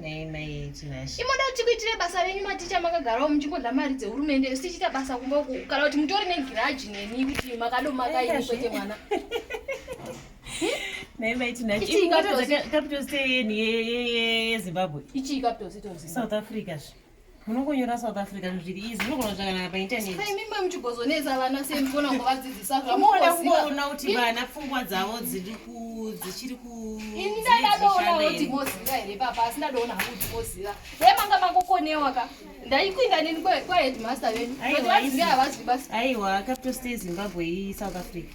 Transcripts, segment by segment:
Nei mai Tinashe. Imoda kuti kuitire basa renyu maticha makagarawo muchingodla mari dzehurumende isu tichiita basa kumba uku kana kuti mutori negiraji neni kuti makado makaini kwete mwana. Nei mai Tinashe. Ichi Imbwa ikatozi- tozi- capital city yeni ye- ye- ye- yeZimbabwe. Ichi capital city of Zimbabwe. South Africa zve. munongonyora south africa zviri izi munogona zvakanaka paintanetmimba muchigozonetsa vana sei mugona kuvadzidzisa zvamoda kuona kuti vana pfungwa dzavo dziri ku dzichiri ku ini ndadadoona kuti moziva here papa asi ndadoona hangu kuti moziva dai manga makokonewa ka ndaikuinda nini kwaheadmaster venyu kuti vazive havazwi basi aiwa capital stay zimbabwe isouth africa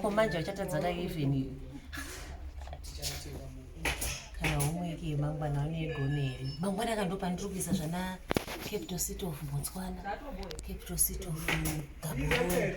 ko manje vachatadza ka even kana homework yemangwana vanoigona here mangwana ka ndopandiri kuisa zvana capital city of botswana capital city of gaborone